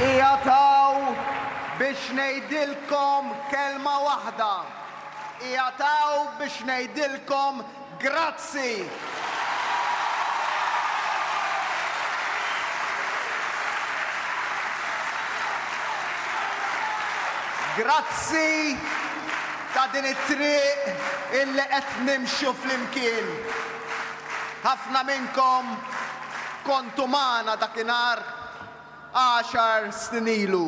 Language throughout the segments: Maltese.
Qiegħed hawn biex ngħidilkom kelma waħda, qiegħed hawn biex ngħidilkom grazzi! Grazzi ta' din it-triq illi qed nimxu flimkien. Ħafna minnkom kontu magħna dakinhar għaxar snin ilu.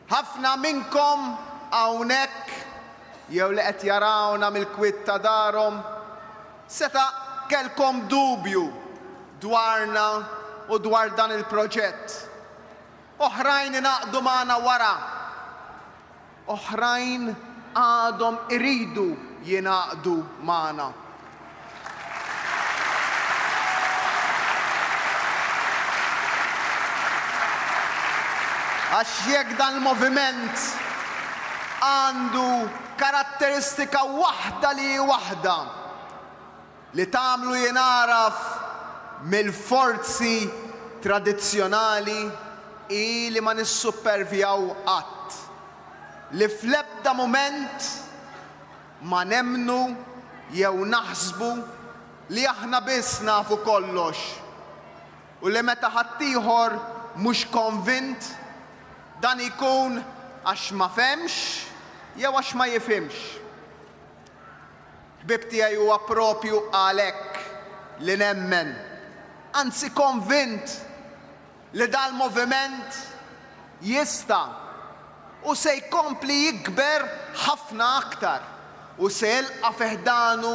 Ħafna minnkom hawnhekk jew li qed jarawna mill-kwiet ta' darhom seta' kellkom dubju dwarna u dwar dan il-proġett. Oħrajn ingħaqdu magħna wara. Oħrajn għadhom iridu jingħaqdu magħna. Għax jekk dan il-moviment għandu karatteristika waħda li hi waħda, li tagħmlu jingħaraf mill-forzi tradizzjonali hi li ma nissuppervjaw qatt, li fl-ebda mument ma nemmnu jew naħsbu li aħna biss nafu kollox u li meta ħaddieħor mhux konvint, dan ikun għax ma fehmx jew għax ma jifhimx. Ħbieb tiegħi huwa proprju għalhekk li nemmen, anzi konvint, li dal-moviment jista' u se jkompli jikber ħafna aktar u se jilqa' fi ħdanu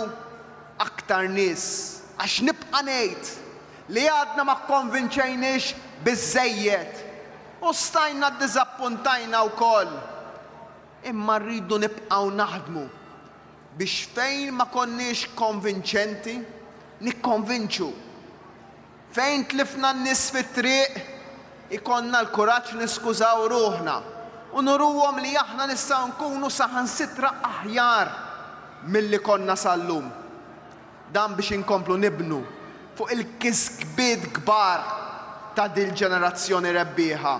aktar nies għax nibqa' ngħid li għadna ma kkonvinċejniex biżżejjed u stajna ddiżappuntajna wkoll. Imma rridu nibqgħu naħdmu biex fejn ma konniex konvinċenti, nikkonvinċu. Fejn tlifna n-nies fit-triq, ikollna l-kuraġġ niskużaw ruħna u nuruhom li aħna nistgħu nkunu saħansitra aħjar milli konna sal-lum. Dan biex inkomplu nibnu fuq il-kisbiet kbar ta' dil-ġenerazzjoni rebbieħa.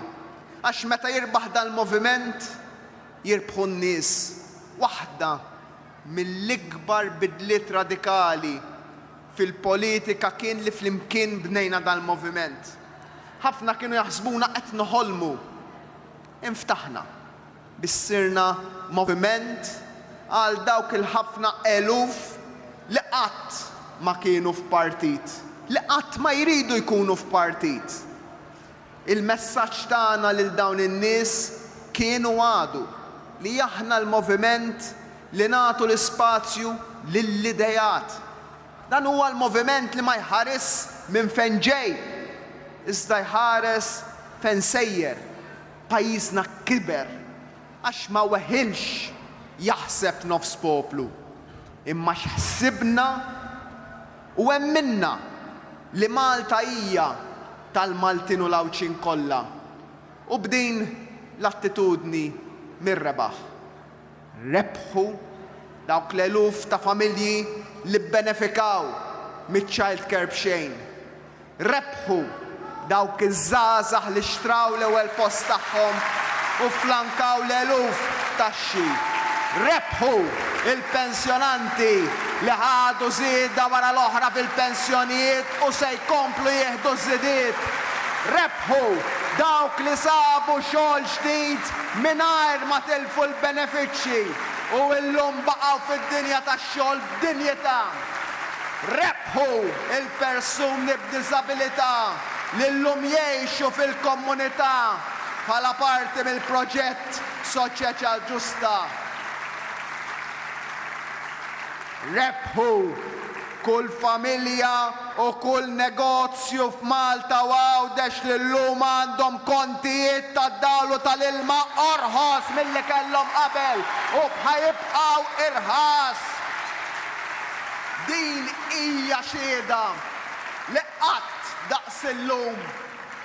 Għax meta jirbaħ dal-moviment, jirbħu n-nies, waħda mill-ikbar bidliet radikali fil-politika kien li flimkien bnejna dal-moviment. Ħafna kienu jaħsbuna qed noħolmu. Inftaħna biex sirna moviment għal dawk il-ħafna eluf li qatt ma kienu f'partit, li qatt ma jridu jkunu f'partit. Il-messaġġ tagħna lil dawn in-nies kien u għadu li aħna l-moviment li nagħtu l-ispazju lill-ideat. Dan huwa l-moviment li ma jħarisx minn fejn ġej, iżda jħares fejn sejjer. Pajjiżna kiber għax ma weħilx jaħseb nofs poplu, imma x'ħsibna. U hemm minnha li Malta hija tal-Maltin u l-Għawdxin kollha u b'din l-attitudni mir-rebaħ rebħu dawk l-eluf ta' familji li bbenefikaw miċ-childcare b'xejn Rebħu dawk iż-żgħażagħ li xtraw l-ewwel post tagħhom u fflankaw l-eluf f'taxxi. Rebħu l-pensjonanti li ħadu żieda wara l-oħra fil-pensjonijiet u se jkomplu jieħdu ż-żidiet. Rebħu dawk li sabu xogħol ġdid mingħajr ma tilfu l-benefiċċji u llum baqgħu fid-dinja tax-xogħol b'dinjità. Rebħu. Hu l-persuni b'diżabilità li llum jgħixu fil-komunità bħala parti mill-proġett Soċjeċa Ġusta rebħu kull familja u kull negozju f'Malta u Għawdex li llum għandhom kontijiet tad-dawl u tal-ilma orħos milli kellhom qabel u b'ħa jibqgħu irħas. Din hija xhieda li qatt daqs illum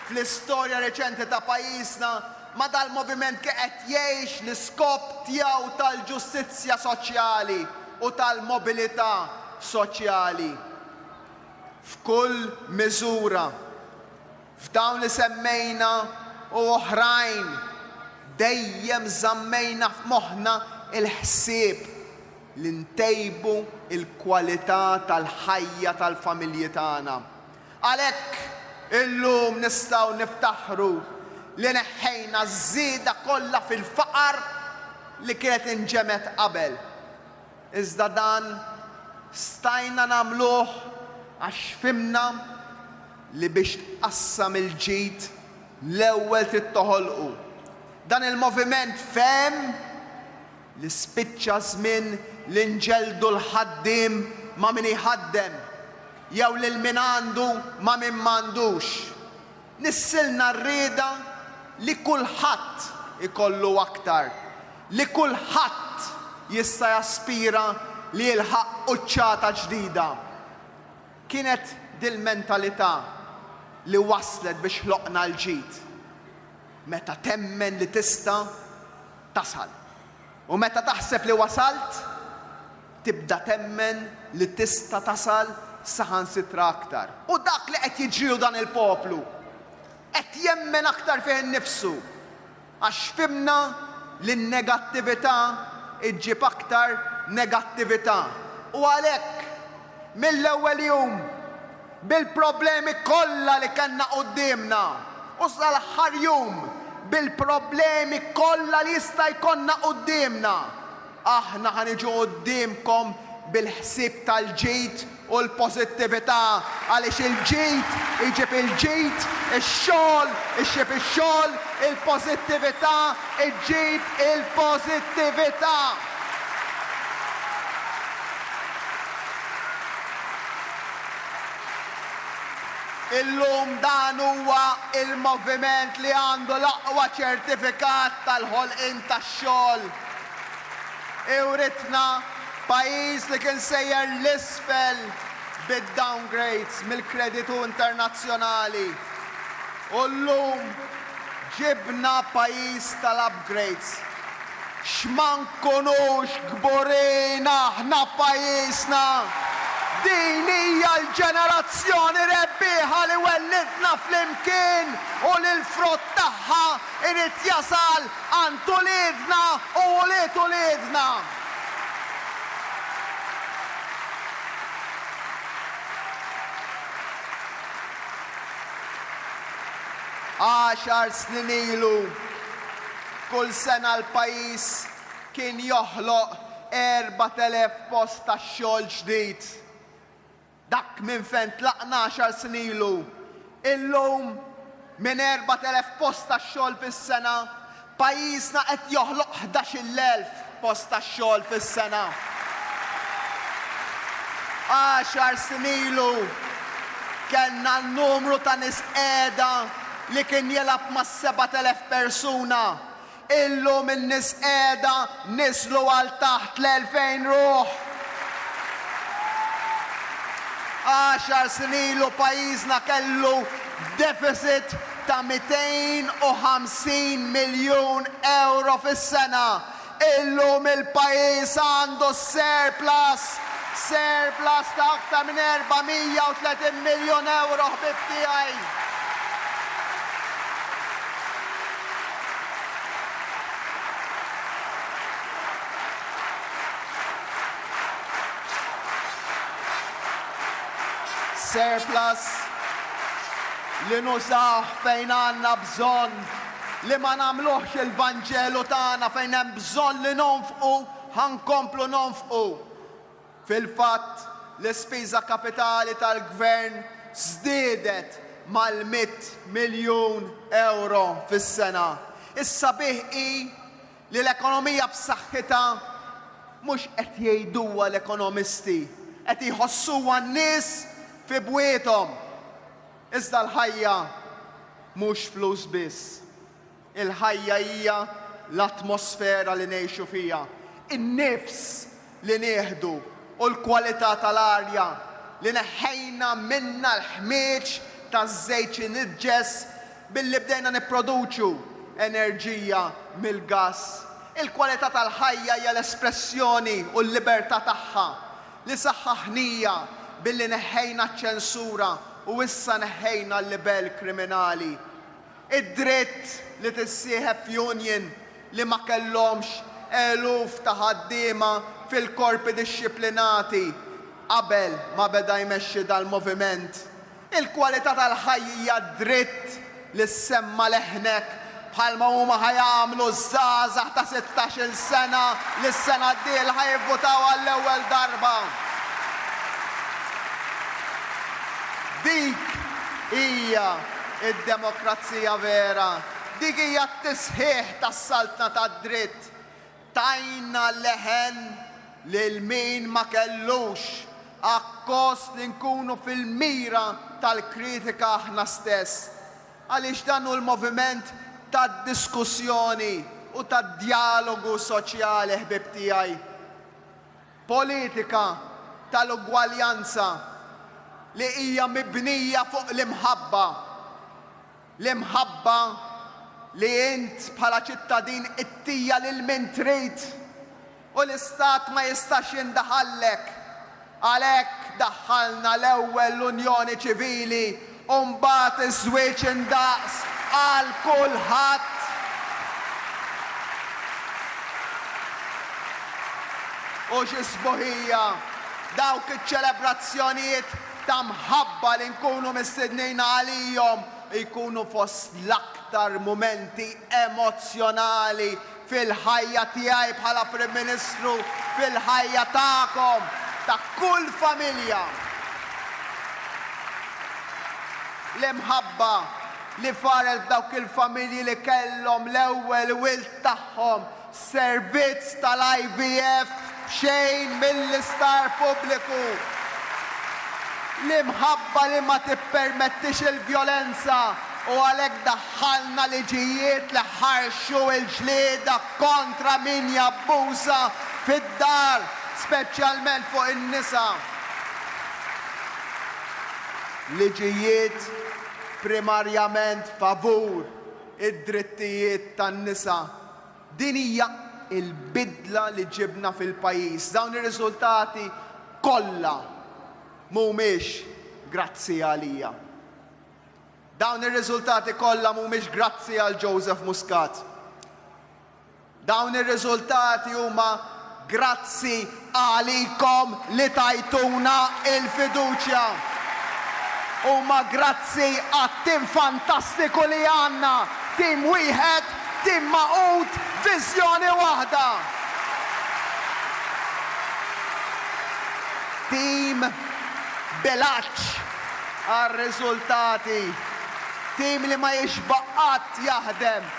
fl-istorja reċenti ta' pajjiżna ma dal-moviment kien qed jgħix l-iskop tiegħu tal-ġustizzja soċjali u tal-mobilità soċjali f'kull miżura. F'dawn li semmejna u oħrajn dejjem żammejna f'moħħna l-ħsieb li ntejbu l-kwalità tal-ħajja tal-familji tagħna. Għalhekk, illum nistgħu niftaħru li neħħejna ż-żieda kollha fil-faqar li kienet inġemgħet qabel. Iżda dan stajna nagħmluh għax fhimna li biex tqassam il-ġid, l-ewwel trid toħolqu. Dan il-moviment fehem, li spiċċa ż-żmien li nġeldu l-ħaddiem ma' min iħaddem jew lil min għandu ma' min m'għandux. Nissilna r-rieda li kulħadd ikollu aktar, li kulħadd jista' jaspira li jilħaq quċċata ġdida. Kienet dil-mentalità li wasslet biex ħloqna l-ġid. Meta temmen li tista' tasal. U meta taħseb li wasalt, tibda temmen li tista' tasal saħansitra aktar. U dak li qed jiġrilu dan il-poplu, qed jemmen aktar fih innifsu, għax fhimna li n-negattività ġġib aktar negattività. U għalhekk, mill-ewwel jum, bil-problemi kollha li kellna quddiemna u sal-aħħar jum bil-problemi kollha li jista' jkollna quddiemna, aħna ħa niġu quddiemkom bil-ħsieb tal-ġid u l-pożittività għaliex il-ġid iġib il-ġid, ix-xogħol ixjeb ix-xogħol, il-pożittività ġġib il-pożittività. Illum dan huwa l-moviment li għandu l-aqwa ċertifikat tal-ħolqien tax-xogħol. Iwritna pajjiż li kien sejjer 'l isfel bid-downgrades mill-kreditu internazzjonali u llum ġibna pajjiż tal-upgrades. X'ma nkunux kburin aħna b'pajjiżna! Din hija l-ġenerazzjoni rebbieħa li wellidtna flimkien u li l-frott tagħha jrid jasal għand uliedna u ulied uliedna. Għaxar snin ilu, Kull sena l-pajjiż kien joħloq 4,000 post tax-xogħol ġdid. Dak minn fejn tlaqna għaxar snin ilu. Illum, minn 4,000 post tax-xogħol fis-sena, pajjiżna qed joħloq ħdax-il elf. post tax-xogħol fis-sena. Għaxar snin ilu kellna numru ta' nies qiegħda li kien jilgħab ma' 7,000 persuna. Illum in-nies qiegħda niżlu għal taħt l-2,000 ruħ. Għaxar snin ilu pajjiżna kellu deficit ta' 250 miljun ewro fis-sena, illum il-pajjiż għandu surplus, surplus ta' aktar minn 430 miljun ewro ħbieb tiegħi. Surplus li nużawh fejn għandna bżonn, li ma nagħmluhx il-Vanġelu tagħna fejn hemm bżonn li nonfqu ħa nkomplu nonfqu. Fil-fatt, l-ispiża kapitali tal-Gvern żdiedet mal-mitt miljun ewro fis-sena. Is-sabiħ hi Li l-ekonomija b'saħħitha mhux qed jgħiduha l-ekonomisti, qed jħossuha n-nies fi bwiethom. Iżda l-ħajja mhux flus biss. Il-ħajja hija l-atmosfera li ngħixu fiha, in-nifs li nieħdu u l-kwalità tal-arja li neħħejna minnha l-ħmieġ taż-żejt iniġġes billi bdejna nipproduċu enerġija mill-gass. Il-kwalità tal-ħajja hija l-espressjoni u l-libertà tagħha li saħħaħnija billi neħħejna ċ-ċensura u issa neħħejna l-libell kriminali. Id-dritt li tissieħeb f'union li ma kellhomx eluf ta' ħaddiema fil-korpi dixxiplinati qabel ma beda jmexxi dal-moviment. Il-kwalità tal-ħajja hija dritt li ssemma' leħnek bħalma huma ħa jagħmlu ż-żgħażagħ ta' sittax-il sena li s-sena d-dieħla ħa jivvutaw għall-ewwel darba. Dik hija. Id-demokrazija vera, dik hija t-tisħiħ tas-saltna tad-dritt. Tajna leħen lil min ma kellux, akkost li nkunu fil-mira tal-kritika aħna stess. Għaliex dan hu l-moviment tad-diskussjoni u tad-djalogu soċjali, ħbieb tiegħi. Politika tal-ugwaljanza li hija mibnija fuq l-imħabba, l-imħabba li int bħala ċittadin ittija lil min trid u l-Istat ma jistax jindaħallek. Għalhekk daħħalna l-ewwel l-unjoni ċivili U mbagħad iż-żwieġ indaqs għal kulħadd. U xi sbuħija dawk iċ-ċelebrazzjonijiet ta' mħabba li nkunu mistednin għalihom jkunu fost l-aktar mumenti emozzjonali fil-ħajja tiegħi bħala Prim Ministru, fil-ħajja tagħkom, ta' kull familja. L-imħabba li faret f'dawk il-familji li kellhom l-ewwel wild tagħhom f'servizz tal-IVF b'xejn mill-isptar pubbliku. L-imħabba li ma tippermettix il-vjolenza u għalhekk Dħalna liġijiet li ħarxu l-ġlieda kontra min jabbuża fid-dar, speċjalment fuq in-nisa. Liġijiet primarjament favur id-drittijiet tan-nisa. Din hija l-bidla li ġibna fil-pajjiż. Dawn ir-riżultati kollha mhumiex grazzi għalija. Dawn ir-riżultati kollha mhumiex grazzi għal Joseph Muscat. Dawn ir-riżultati huma grazzi għalikom li tajtuna l-fiduċja. Huma grazzi għat-tim fantastiku li għandna, tim wieħed, tim magħqud, viżjoni waħda. Tim b'ilgħaġġ. għar-riżultati, tim li ma jixbaq qatt jaħdem,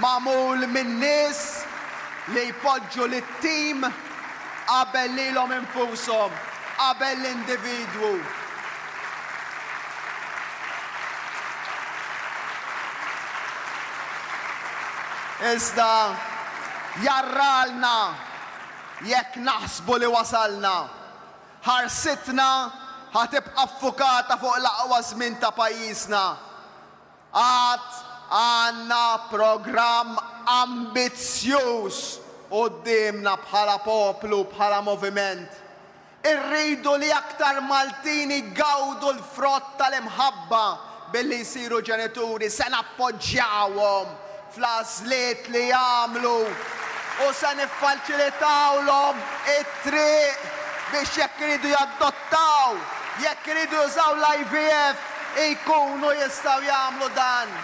magħmul minn nies li jpoġġu lit-tim qabel lilhom infushom, qabel l-individwu. Iżda jarralna jekk naħsbu li wasalna. Ħarsitna ħa tibqa' ffukata fuq l-aqwa żmien ta' pajjiżna. Għad għandna programm ambizzjuż quddiemna bħala poplu, bħala moviment. Irridu li aktar Maltin igawdu l-frott tal-imħabba billi jsiru ġenituri. Se nappoġġjawhom. fl-għażliet li jagħmlu u se niffaċilitawlhom it-triq biex jekk iridu jadottaw, jekk iridu jużaw l-IVF, ikunu jistgħu jagħmlu dan.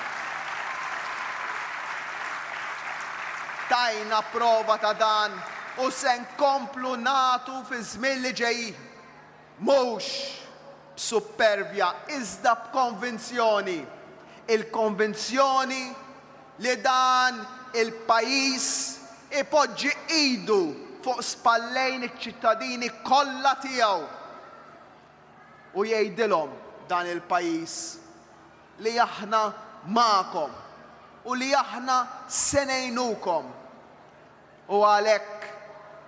Tajna prova ta' dan u se nkomplu nagħtu fiż-żmien li ġejjin. Mhux b'suppervja iżda b'konvinzjoni, il-konvinzjoni li dan il-pajjiż ipoġġi idu fuq spallejn iċ-ċittadini kollha tiegħu u jgħidilhom dan il-pajjiż li aħna magħkom u li aħna se ngħinukom. U għalhekk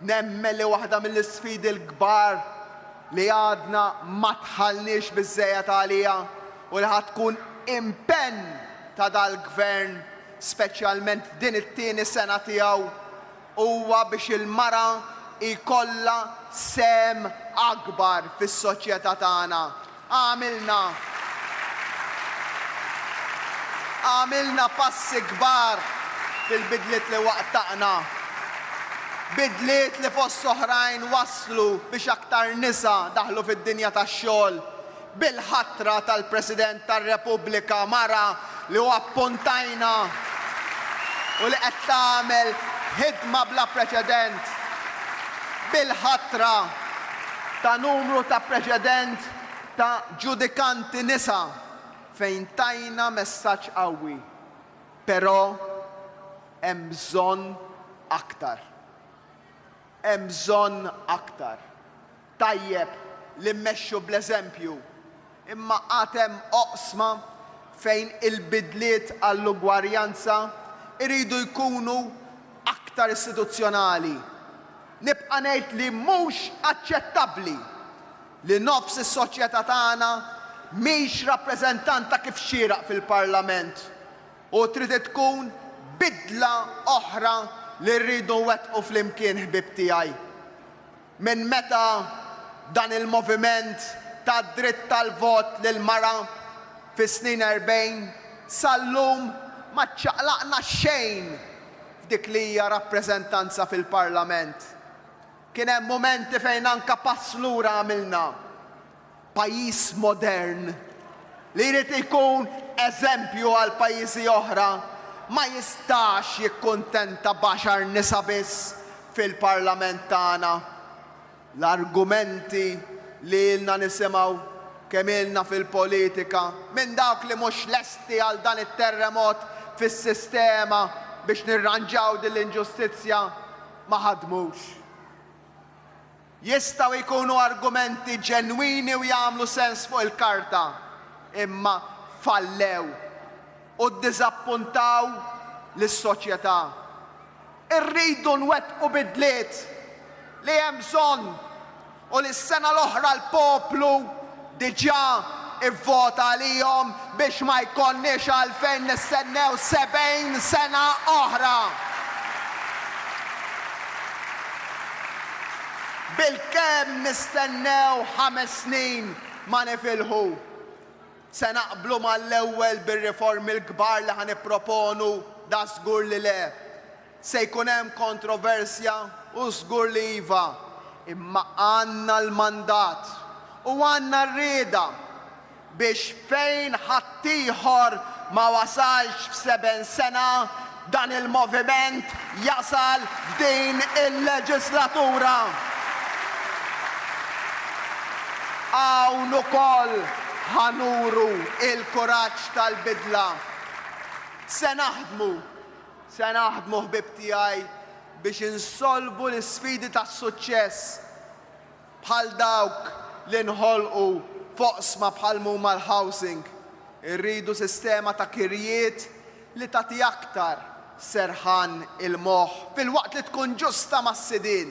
nemmen li waħda mill-isfidi l-kbar li għadna ma dħalniex biżżejjed għaliha u li ħa tkun impenn ta' dal-Gvern, speċjalment f'din it-tieni sena tiegħu, huwa biex il-mara jkollha sehem akbar fis-soċjetà tagħna Għamilna Għamilna passi kbar fil-bidliet li waqqtaqna, bidliet li fost oħrajn wasslu biex aktar nisa daħlu fid-dinja tax-xogħol, bil-ħatra tal-President tar-Repubblika mara li hu appuntajna u li qed tagħmel ħidma bla preċedent bil-ħatra ta' numru ta' preċedent ta' ġudikanti nisa fejn tajna messaġġ qawwi. Però hemm bżonn aktar. Hemm bżonn aktar. Tajjeb li mmexxu bl-eżempju, imma għad hemm oqsma fejn il-bidliet għall-ugwarjanza jridu jkunu aktar istituzzjonali. Nibqa' ngħid li mhux aċċettabbli li nofs is-soċjetà tagħna mhix rappreżentanta kif xieraq fil-Parlament u trid tkun bidla oħra li rridu nwettqu flimkien ħbieb tiegħi. Minn meta dan il-moviment ta d-dritt tal-vot lill-mara fis-snin erbgħin sal-lum ma ċċaqlaqna xejn f'dik li hija rappreżentanza fil-Parlament. Kien hemm mumenti fejn anke pass lura għamilna. Pajjiż modern, li jrid ikun eżempju għal pajjiżi oħra, ma jistax jikkuntenta b'għaxar nisa biss fil-Parlament tagħna. L-argumenti li ilna nisimgħu, kemm ilna fil-politika, minn dawk li mhux lesti għal dan it-terremot fis-sistema biex nirranġaw din l-inġustizzja, ma ħadmux. Jistgħu jkunu argumenti ġenwini u jagħmlu sens fuq il-karta, imma fallew u ddiżappuntaw lis-soċjetà. Irridu nwettqu bidliet li hemm bżonn u li s-sena l-oħra l-poplu diġà vvota għalihom biex ma jkollniex għalfejn nistennew 70 sena oħra bilkemm nistennew ħames snin ma nifilħu. Se naqblu mal-ewwel bir-riformi l-kbar li ħa nipproponu? Dażgur li le. Se jkun hemm kontroversja u żgur li iva, imma għandna l-mandat u għandna r-rieda biex fejn ħaddieħor ma wasalx f'seben sena, dan il-moviment jasal f'din il-leġislatura. Hawn ukoll ħa nuru l-kuraġġ tal-bidla. Se naħdmu. Se naħdmu ħbieb tiegħi biex insolvu l-isfidi ta' suċċess bħal dawk li nħolqu f'oqsma bħal m'huma l-housing. Irridu sistema ta' kirjiet li tagħti aktar serħan il-moħħ filwaqt li tkun ġusta mas-sidien.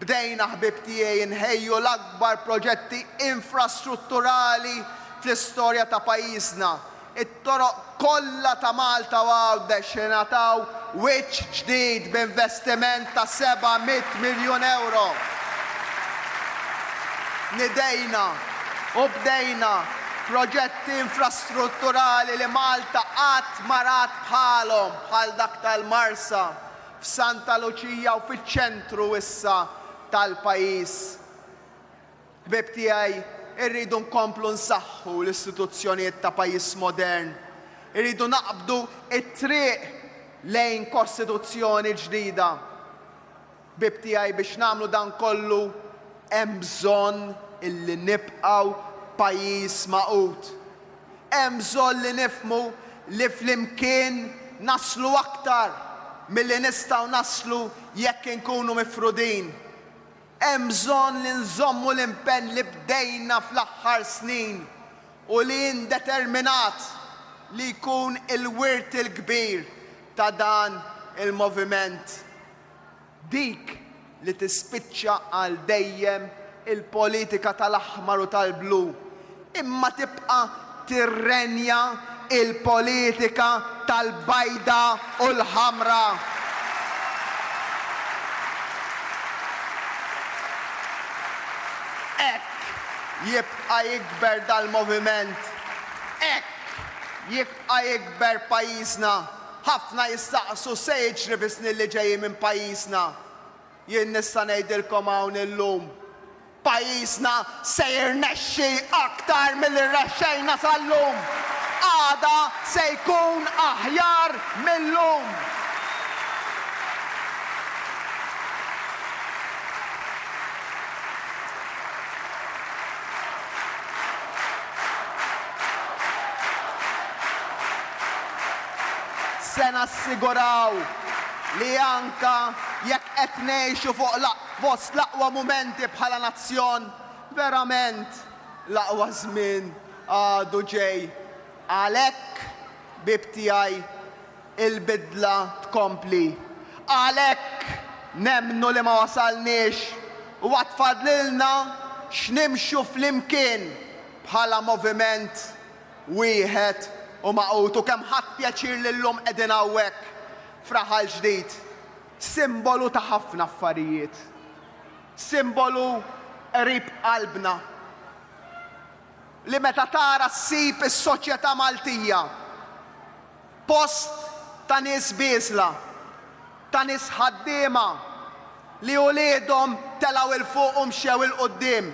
Bdejna ħbieb tiegħi nħejju l-akbar proġetti infrastrutturali fl-istorja ta' pajjiżna. It-toroq kollha ta' Malta u Għawdex ingħataw wiċċ ġdid b'investiment ta' seba' mitt miljun ewro. Nidejna u bdejna proġetti infrastrutturali li Malta qatt ma rat bħalhom bħal dak tal-Marsa, f'Santa Luċija u fiċ-ċentru issa tal-pajjiż. Ħbieb tiegħi, irridu nkomplu nsaħħu l-istituzzjonijiet ta' pajjiż modern. Irridu naqbdu t-triq lejn Kostituzzjoni ġdida. Ħbieb tiegħi, biex nagħmlu dan kollu hemm bżonn illi nibqgħu pajjiż magħqud. Hemm bżonn li nifhmu li flimkien naslu aktar milli nistgħu naslu jekk inkunu mifrudin. Hemm bżonn li nżommu l-impenn li bdejna fl-aħħar snin u li jien determinat li jkun il-wirt il-kbir ta' dan il-moviment. Dik li tispiċċa għal dejjem il-politika tal-aħmar u tal-blu, imma tibqa' tirrenja l-politika tal-bajda u l-ħamra. Hekk jibqa' jikber dal-moviment, hekk jibqa' jikber pajjiżna. Ħafna jistaqsu x'se jiġri bis-snin li ġejjin minn pajjiżna. Jien nista' ngħidilkom hawn illum, pajjiżna se jirnexxi aktar milli rnexxejna sal-lum. Għada se jkun aħjar mil-lum. Se nassiguraw li anke jekk qed ngħixu fuq fost l-aqwa mumenti bħala nazzjon, verament l-aqwa żmien għadu ġej. Għalhekk, ħbieb tiegħi, il-bidla tkompli. Għalhekk, nemmnu li ma wasalniex u għad fadlilna x'nimxu flimkien bħala moviment Wieħed u magħqud u kemm ħadt pjaċir li llum qegħdin hawnhekk f'raħal ġdid, simbolu ta' ħafna affarijiet. Simbolu qrib qalbna li meta tara ssib is-soċjetà Maltija post ta' nies bieżla, ta' nies ħaddiema li uliedhom telgħu 'l fuq u mxew 'il quddiem.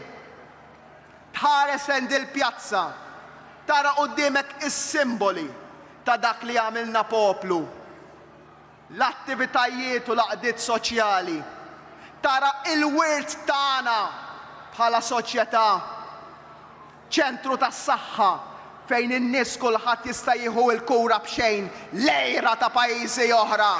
Tħares lejn dil-pjazza, tara quddiemek is-simboli ta' dak li għamilna poplu, l-attivitajiet u l-għaqdiet soċjali, tara il-wirt tagħna bħala soċjetà, ċentru tas-saħħa, Fejn in-nies kulħadd jista' jieħu l-kura b'xejn l-għira ta' pajjiżi oħra.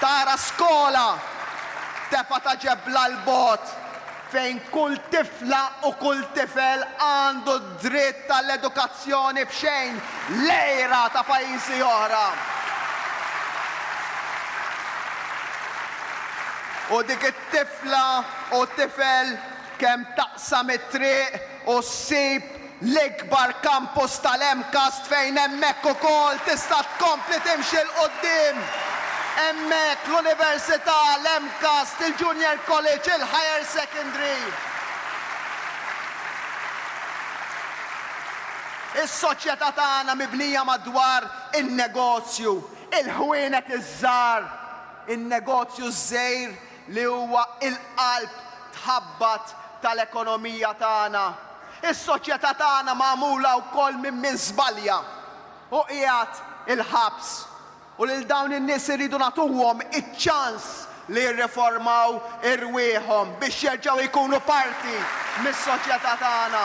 Tara skola tefgħa ta' ġebla 'l bogħod fejn kull tifla u kull tifel għandu d-dritt għall-edukazzjoni b'xejn l-għira ta' pajjiżi oħra. U dik Tifla u tifel kemm taqsam it-triq u ssib l-ikbar kampus tal-MCAST fejn hemmhekk ukoll tista' tkompli timxi 'l quddiem. Hemmhekk l-Università, l-MCAST, il-Junior College, il-Higher Secondary, is-soċjetà tagħna mibnija madwar in-negozju, il-ħwienet iż-żgħar, In-negozju ż-żgħir li huwa l-qalb tħabbat tal-ekonomija tagħna. Is-soċjetà tagħna magħmula wkoll minn min żbalja u qiegħed il-ħabs. U lil dawn in-nies irridu nagħtuhom iċ-ċans li jirriformaw irwieħhom biex jerġgħu jkunu parti mis-soċjetà tagħna.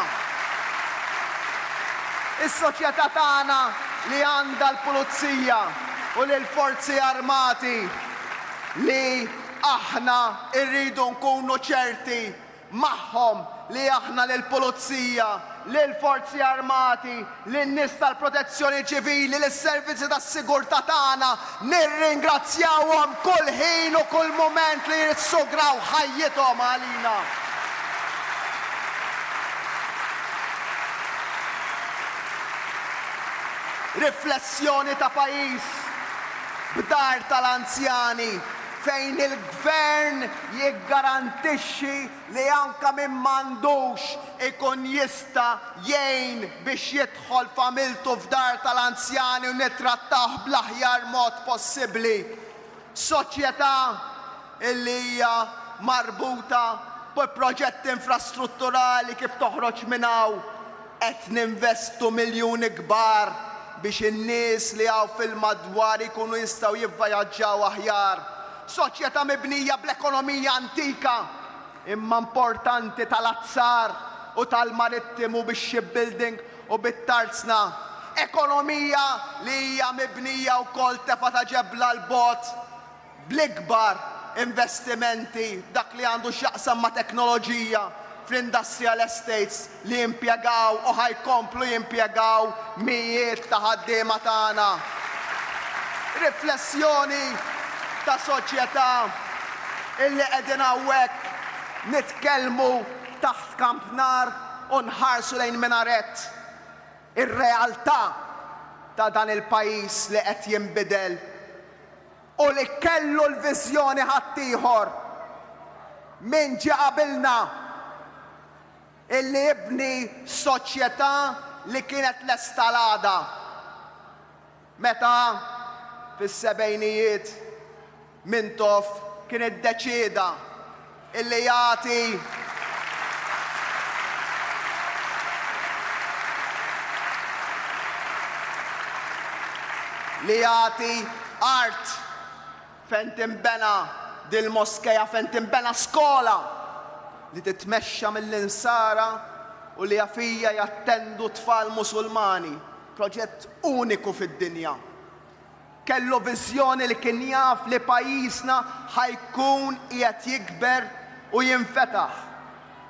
Is-soċjetà tagħna li għandha l-pulizija. u lill-Forzi Armati li aħna rridu nkunu ċerti magħhom li aħna lill-Pulizija, lill-Forzi Armati, lin-nies tal-Protezzjoni Ċivili, lis-servizzi tas-sigurtà tagħna nirringrazzjawhom kull ħin u kull mument li jissugraw ħajjithom għalina. Riflessjoni ta' pajjiż b'dar tal-anzjani fejn il-Gvern jiggarantixxi li anke min m'għandux ikun jista' jgħin biex jidħol familtu f'dar tal-anzjani u nittrattawh bl-aħjar mod possibbli. Soċjetà li hija marbuta bi proġetti infrastrutturali kif toħroġ minn hawn? Qed ninvestu miljuni kbar biex in-nies li hawn fil-madwar ikunu jistgħu jivvajaġġaw aħjar. Soċjetà mibnija bl-ekonomija antika imma importanti tal-azzar u tal-marittimu bix-shipbuilding u bit-tarzna, ekonomija li hija mibnija wkoll tefgħa ta' ġebla 'l bogħod bl-ikbar investimenti f'dak li għandu x'jaqsam ma' teknoloġija fl-industrial estates li impjegaw u ħa jkomplu jimpjegaw mijiet ta' ħaddiema tagħna. Riflessjoni ta' soċjetà illi qegħdin hawnhekk nitkellmu taħt kamp nar. u nħarsu lejn minaret ir-realtà ta' dan il-pajjiż li qed jinbidel u li kellu l-viżjoni ħaddieħor minn ġie qabilna illi jibni soċjetà li kienet lesta għal għada. Meta, fis-sebgħinijiet, Mintoff kien iddeċieda illi jagħti li jagħti art fejn tinbena dil-moskea, fejn tinbena skola li titmexxa mill-Insara u li fija jattendu t-tfal Musulmani, Proġett uniku fid-dinja. Kellu viżjoni li kien jaf li pajjiżna ħa jkun qiegħed jikber u jinfetaħ.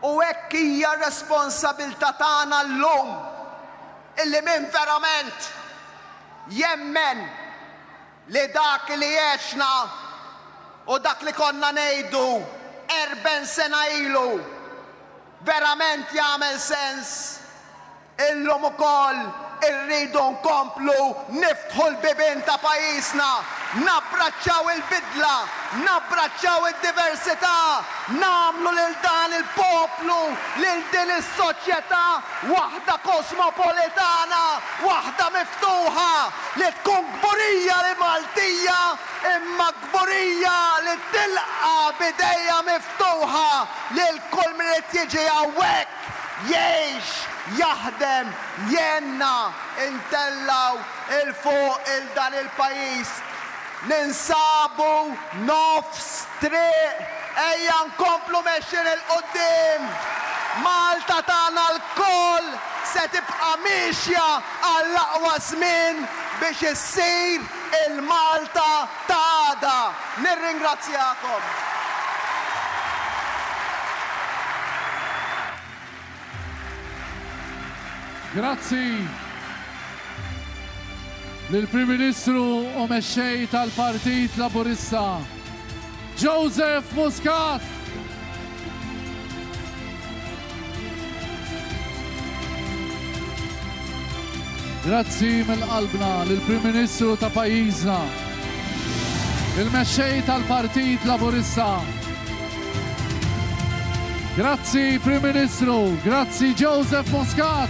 U hekk hija r-responsabilità tagħna llum illi min verament jemmen li dak li għexna u dak li konna ngħidu erben sena ilu verament jagħmel sens, Illum ukoll irridu nkomplu niftħu l-bibien ta' pajjiżna, nabbraċċaw il-bidla, nabbraċċaw id-diversità, nagħmlu lil dan il-poplu, lil din is-soċjetà waħda kosmopolitana, waħda miftuħa, li tkun kburija li Maltija imma kburija li tilqa' b'idejha miftuħa lil kull min irid jiġi hawnhekk. Jgħix, jaħdem, jgħinna ntellgħu 'l fuq 'il dan il-pajjiż. Ninsabu nofs triq, ejja nkomplu mexjin 'il quddiem! Malta tagħna lkoll se tibqa' miexja għall-aqwa żmien biex issir Il-Malta ta' għada! Nirringrazzjakom. Grazzi lill-Prim Ministru u Mexxej tal-Partit Laburista, Joseph Muscat. Grazzi mill-qalbna lill-Prim Ministru ta' pajjiżna, il-Mexxej tal-Partit Laburista. Grazzi Prim Ministru, grazzi Joseph Muscat.